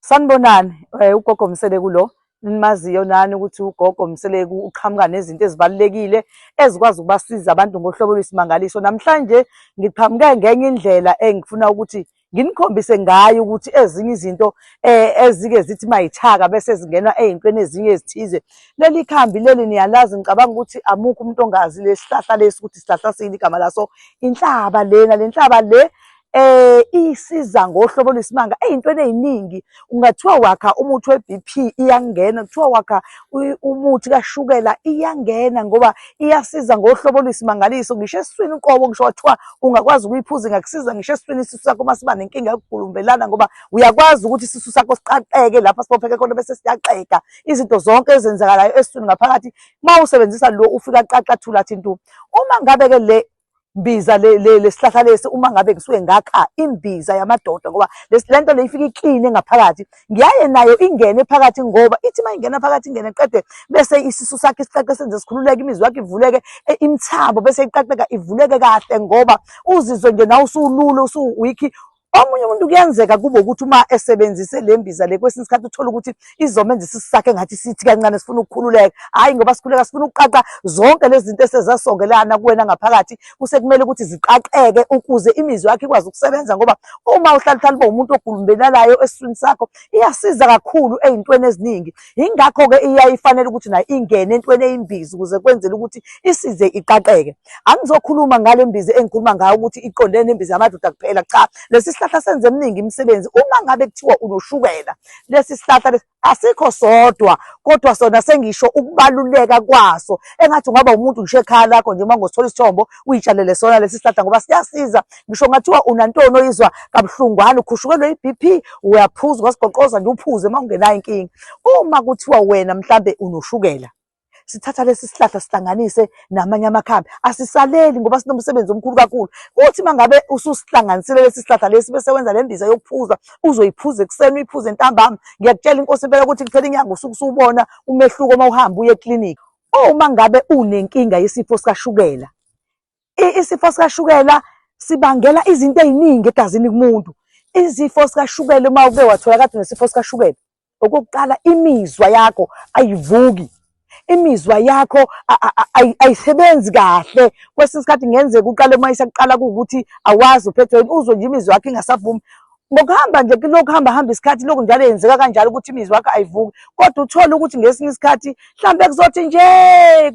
Sanibonani, eh, ugogo Mseleku lo nimaziyo nani ukuthi ugogo Mseleku uqhamuka nezinto ezibalulekile ezikwazi ukubasiza abantu ngohlobo lwesimangaliso. Namhlanje ngiqhamuke ngenye indlela engifuna ukuthi nginikhombise ngayo ukuthi ezinye izinto eh, ezike zithi mayithaka bese zingenwa ey'ntweni ezinye ezithize. Leli khambi leli niyalazi ngicabanga ukuthi amukho umuntu ongazi lesihlahla lesi ukuthi sihlahla sini igama laso inhlaba lena, le nhlaba le eh isiza ngohlobo lwesimanga eyintweni eziningi ungathiwa wakha umuthi weBP iyangena kuthiwa wakha umuthi kashukela iyangena ngoba iyasiza ngohlobo lwesimangaliso ngisho eswini uqobo ngisho wathiwa ungakwazi ukuyiphuza ngakusiza ngisho eswini isisu sakho masiba nenkinga yokugulumbelana ngoba uyakwazi ukuthi isisu sakho siqaqeke lapha sibopheke khona bese siyaqeka izinto zonke ezenzakalayo eswini ngaphakathi mawusebenzisa lo ufika qaqa thula thintu uma ngabe ke le mbiza lesihlahla lesi uma ngabe ngisuke ngakha imbiza yamadoda ngoba lento le ifike ikline ngaphakathi ngiyaye nayo ingene phakathi ngoba ithi uma ingena phakathi ingene qede bese isisu sakhe isiqaqe senze sikhululeke imizwa yakhe ivuleke e, imithabo bese iqaqeka ivuleke kahle ngoba uzizwe nje nawe usulule usuwiki Omunye umuntu kuyenzeka kube ukuthi uma esebenzise le mbiza le kwesinye isikhathi uthola ukuthi izomenza isisu sakhe ngathi sithi kancane sifuna ukukhululeka hhayi ngoba sikhululeka sifuna ukuqaqa zonke lezi zinto esezasongelana kuwena ngaphakathi kusekumele ukuthi ziqaqeke ukuze imizwa yakho ikwazi ukusebenza ngoba uma uhlala uhlala uba umuntu ogulumbelalayo esiswini sakho iyasiza kakhulu ey'ntweni eziningi yingakho-ke iyaye ifanele ukuthi nayo ingene entweni eyimbiza ukuze kwenzele ukuthi isize iqaqeke angizokhuluma ngale mbiza engikhuluma ngayo ukuthi iqondene nembiza yamadoda kuphela cha lesi sihlahla senze eminingi imisebenzi uma ngabe kuthiwa unoshukela lesi sihlahla lesi asikho sodwa kodwa sona sengisho ukubaluleka kwaso engathi ungaba umuntu ngisho ekhaya lakho nje uma ngosithola isithombo uyitshalele sona lesi sihlahla ngoba siyasiza ngisho ngathiwa unantoni oyizwa kabuhlungwana ukhushukelwe i-bp uyaphuza ungasigoqoza nje uphuze uma ungenayo inkinga uma kuthiwa wena mhlambe unoshukela sithatha lesi sihlahla sihlanganise namanye amakhambi asisaleli ngoba sinomsebenzi omkhulu kakhulu uthi mangabe ususihlanganisile lesi sihlahla lesi bese wenza le mbiza yokuphuza uzoyiphuza ekuseni uyiphuze ntambama ngiyakutshela inkosi impela ukuthi kuphela inyanga usuke usubona umehluko uma uhamba uye eklinikhi uma ngabe unenkinga yesifo sikashukela isifo sikashukela sibangela izinto eziningi egazini kumuntu izifo sikashukela uma uke wathola kade nesifo sikashukela okokuqala imizwa yakho ayivuki imizwa yakho ayisebenzi kahle kwesinye isikhathi ngenzeka uqale uma isakuqala kuwukuthi awazi uphethweni uzwe nje imizwa yakho ingasavumi ngokuhamba nje kulokhu hamba hamba isikhathi lokhu njalo yenzeka kanjalo ukuthi imizwa yakho ayivuki kodwa uthole ukuthi ngesinye isikhathi mhlawumbe kuzothi nje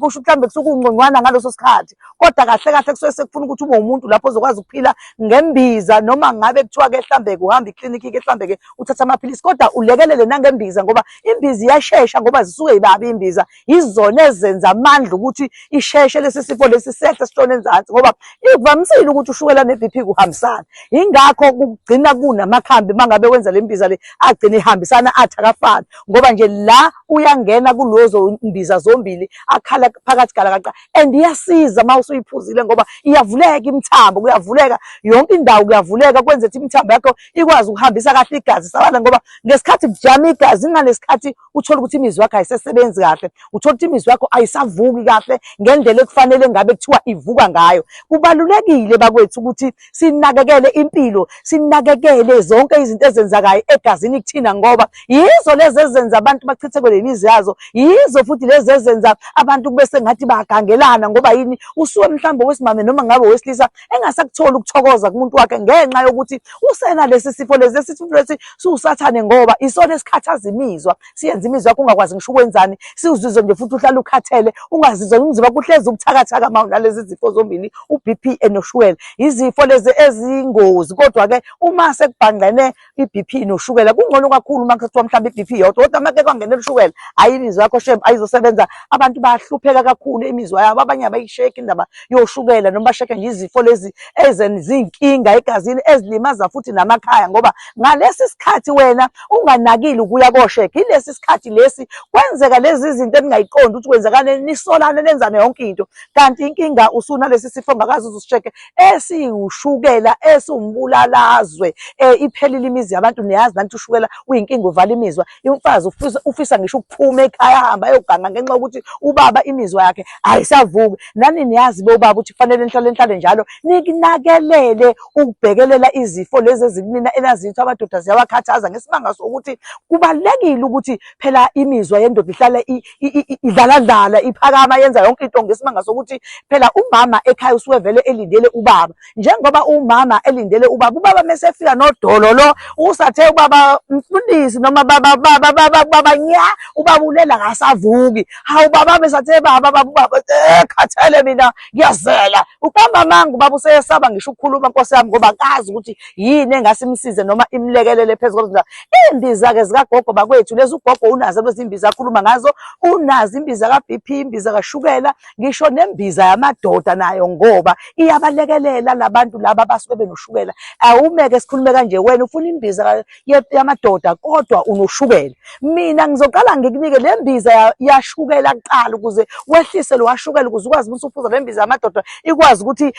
kusho mhlawumbe kusuke ungconywana ngaleso sikhathi kodwa kahle kahle kusuke sekufuna ukuthi ube umuntu lapho ozokwazi ukuphila ngembiza noma ngabe kuthiwa ke mhlawumbe kuhamba iklinikhi ke mhlawumbe ke uthatha amaphilisi kodwa ulekelele nangembiza ngoba imbiza iyashesha ngoba zisuke yibabi imbiza yizona ezenza amandla ukuthi isheshe lesi sifo lesi sehle sishone enzansi ngoba ikuvamisile ukuthi ushukela ne-bp kuhambisana yingakho kugcina kunamakhambi uma ngabe wenza le mbiza le agcine ihambisana athi akafani ngoba nje la uyangena kulozo mbiza zombili akhala phakathi galakaqa and iyasiza uma usuyiphuzile ngoba iyavuleka imithambo kuyavuleka yonke indawo kuyavuleka kwenza ukuthi imithambo yakho ikwazi ukuhambisa kahle igazi sabana ngoba ngesikhathi kujama igazi inganesikhathi uthole ukuthi imizwa yakho ayisesebenzi kahle uthole ukuthi imizwa yakho ayisavuki kahle ngendlela ekufanele ngabe kuthiwa ivuka ngayo kubalulekile bakwethu ukuthi sinakekele impilo sinakekele zonke izinto ezenzakayo egazini kuthina ngoba yizo lezi ezenza abantu bachithekwe lemizi yazo yizo futhi lezi ezenza abantu kube sengathi bayagangelana ngoba yini usuke mhlawumbe wesimame noma ngabe wesilisa engasakutholi ukuthokoza kumuntu wakhe ngenxa yokuthi usena lesi sifo lesi lesi sifo lesi siwusathane ngoba isona esikhathaza imizwa siyenza imizwa yakho ungakwazi ngisho ukwenzani siwuzizwe nje futhi uhlale ukhathele ungazizwa umzimba kuhlezi ubuthakathaka ma unalezi zifo zombili u-BP noshukela izifo lezi ezingozi kodwa-ke uma sekubhangqene i-BP noshukela kungcono kakhulu uma kuthiwa mhlawumbe i-BP yodwa kodwa uma ke kwangenela ushukela hhayi imizwa yakho shem ayizosebenza abantu bayahlupheka kakhulu imizwa yabo abanye abayisheki indaba yoshukela noma basheke nje izifo lezi ezenzinkinga egazini ezilimaza futhi namakhaya ngoba ngalesi sikhathi wena unganakile ukuya kosheke yilesi sikhathi lesi kwenzeka lezi zinto eningayiqondi ukuthi kwenzakaleni nisolane nenzane yonke into kanti inkinga usunalesi sifo ngakazi uzusisheke esiwushukela esiwumbulalazwe um iphelile imizi yabantu niyazi nanti ushukela uyinkinga uvala imizwa imfazi ufisa ngisho ukuphuma ekhaya ahamba ayoganga ngenxa yokuthi ubaba imizwa yakhe ayisavuki nani niyazi bobaba ukuthi kufanele nihlale nihlale njalo nikunakelele ukubhekelela izifo lezi ezikunina enazitho amadoda ziyawakhathaza ngesibanga sokuthi kubalulekile ukuthi phela imizwa yendoda ihlale idlaladlala iphakama yenza yonke into ngesimanga sokuthi phela umama ekhaya usuke vele elindele ubaba njengoba umama elindele ubaba ubaba mesefika nodolo lo usathe ubaba mfundisi noma baba baba baba baba nya ubaba ulela ngasavuki hawu baba mesathe baba baba ubaba eh, khathele mina ngiyazela uqamba manga ubaba useyesaba ngisho ukukhuluma nkosi yami ngoba kazi ukuthi yini engasimsize noma imlekelele phezulu Iy'mbiza-ke zikagogo bakwethu lezi ugogo unazo lezi mbiza akhuluma ngazo unazo imbiza ka-BP imbiza kashukela ngisho nembiza yamadoda nayo ngoba iyabalekelela labantu laba abasuke benoshukela awumeke sikhulume kanje wena ufuna imbiza yamadoda kodwa unoshukela mina ngizoqala ngikunike le mbiza yashukela kuqala ukuze wehlise lo washukela ukuze ukwazi ukuthi uphuza le mbiza yamadoda ikwazi ukuthi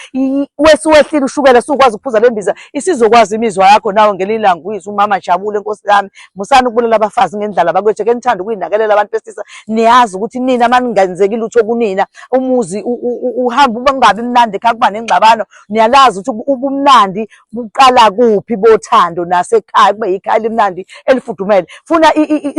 wesiwehlile ushukela sukwazi ukuphuza le mbiza isizokwazi imizwa yakho nawe ngelinye ilanga uyizwa umama jabule nkosi yami musani ukubulala abafazi ngendlala bakwethu ke nithanda ukuyinakelela abantu besilisa niyazi ukuthi nina maningenzeki lutho kunina umuzi uhamba ubangabi mnandi ekhaya kuba nengxabano niyalazi ukuthi ubumnandi buqala kuphi bothando nasekhaya kube yikhaya elimnandi elifudumele funa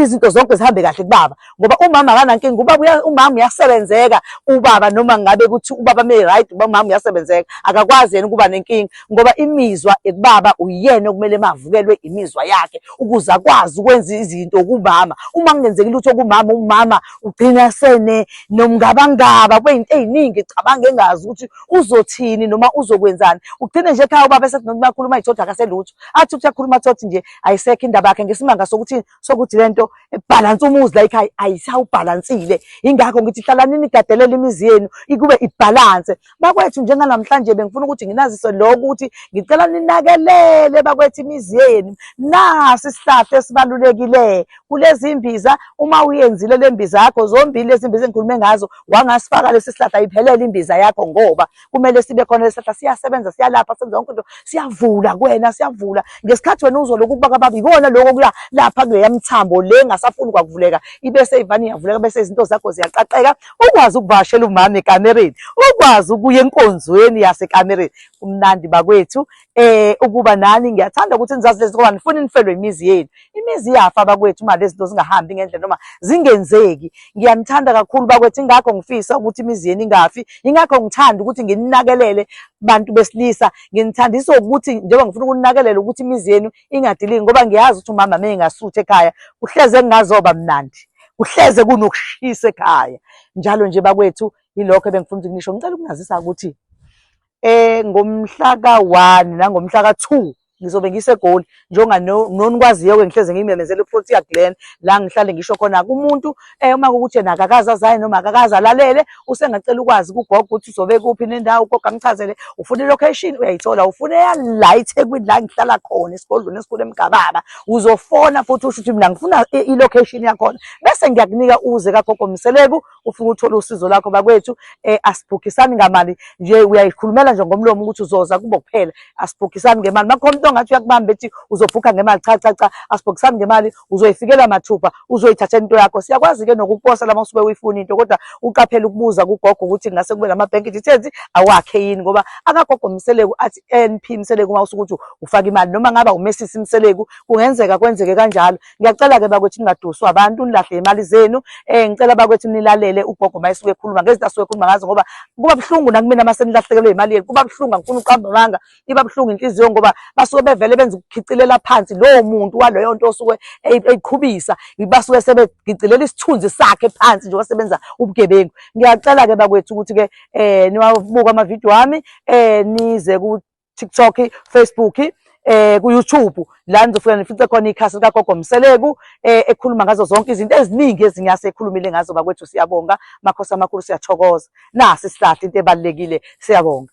izinto zonke zihambe kahle kubaba ngoba umama akanankinga ubaba umama uyasebenzeka ubaba noma ngabe ukuthi ubaba me right uba umama uyasebenzeka akakwazi yena ukuba nenkinga ngoba imizwa ekubaba uyena okumele mavukelwe imizwa yakhe ukuze akwazi ukwenza izinto kumama uma kungenzeki lutho kumama umama ugcina sene nomngabangaba kwezinto eziningi cabanga engazi ukuthi uzothini noma uzokwenzani ugcine nje ekhaya ubaba esethi noma bakhuluma izothi akaselutho athi ukuthi akhuluma thothi nje ayisekho indaba yakhe ngesimanga sokuthi sokuthi lento ebhalansa umuzi like ayisawubhalansile ingakho ngithi hlalani nigadelela imizi yenu ikube ibhalanse bakwethu njenganamhlanje bengifuna ukuthi nginazise lokho ukuthi ngicela ninakelele bakwethu imizi yenu nasi isihlahla esibalulekile kulezi mbiza uma uyenzile le mbiza yakho zombili lezi mbiza engikhulume ngazo wangasifaka lesi sihlahla iphelele imbiza yakho ngoba kumele sibe khona lesihla siyasebenza siyalapha senza yonke into siyavula kuwena siyavula ngesikhathi wena uzoloku ukuba kababi ikona lokho kuya lapha kuleya mthambo le ngasafuni kwakuvuleka ibese ivani iyavuleka bese izinto zakho ziyaqaqeka ukwazi ukuvashela umama ekamereni ukwazi ukuya enkonzweni yasekamereni kumnandi bakwethu eh ukuba nani ngiyathanda ukuthi nizazi lezi ngoba nifuna nifelwe imizi yenu imizi iyafa bakwethu uma lezi zinto zingahambi ngendlela noma zingenzeki ngiyanithanda kakhulu bakwethu ingakho ngifisa ukuthi imizi yenu ingafi ingakho ngithanda ukuthi ngininakelele bantu besilisa nginithandisa ukuthi njengoba ngifuna ukuninakelela ukuthi imizi yenu ingadiliki ngoba ngiyazi ukuthi umama mina ngasuthi ekhaya kuhleze kungazoba mnandi kuhleze kunokushisa ekhaya njalo nje bakwethu yilokho ebengifuna ukuthi ngisho ngicela ukunazisa ukuthi eh ngomhla ka-1 nangomhla ka-2 ngizobe ngisegoli njengoba nonikwaziyo-ke ngihleze ngimemezela uprotia glen la ngihlale ngisho khona kumuntu um uma kukuthi yena akakazi azaye noma akakazi alalele usengacela ukwazi kugogo ukuthi uzobe kuphi nendawo ugogo angichazele ufuna ilocation uyayithola ufuna eyala ithekwini la ngihlala khona esigodlweni esikhulu emgababa uzofona futhi usho ukuthi mina ngifuna ilocation yakhona bese ngiyakunika uze kagogo mseleku ufike uthole usizo lakho bakwethu eh asibhukisani ngamali nje uyayikhulumela nje ngomlomo ukuthi uzoza kubo kuphela asibhukisani ngemali makhona umuntu ongathi uyakubamba ethi uzobhukha ngemali cha cha cha asibhukisani ngemali uzoyifikela mathupha uzoyithatha into yakho siyakwazi ke nokuposa lama usuke uyifuna into kodwa uqaphela ukubuza kugogo ukuthi ngase kube lama bank details awakhe yini ngoba akagogo mseleku athi NP mseleku uma usukuthi ufaka imali noma ngaba umesisi mseleku kungenzeka kwenzeke kanjalo ngiyacela-ke bakwethu ningaduswa abantu nilahle imali zenu um ngicela bakwethu nilalele ugogo uma esuke ekhuluma ngezinto asuke ekhuluma ngazo ngoba kuba buhlungu nakumina uma senilahlekelwe imali yenu kuba buhlungu angifuni uqamba amanga iba buhlungu inhliziyo ngoba basuke bevele benza ukukhicilela phansi lowo muntu waleyo nto osuke eyiqhubisa basuke sebegicilela isithunzi sakhe phansi njengoba sebenza ubugebengu ngiyacela-ke bakwethu ukuthi-ke um niwabuka amavidiyo ami um nize TikTok, Facebook eh ku YouTube la nizofika nifice khona ikhasi lika Gogo Mseleku eh ekhuluma ngazo zonke izinto eziningi ezinyase ekhulumile ngazo bakwethu siyabonga makhosi amakhulu siyathokoza nasi sihlahla into ebalekile siyabonga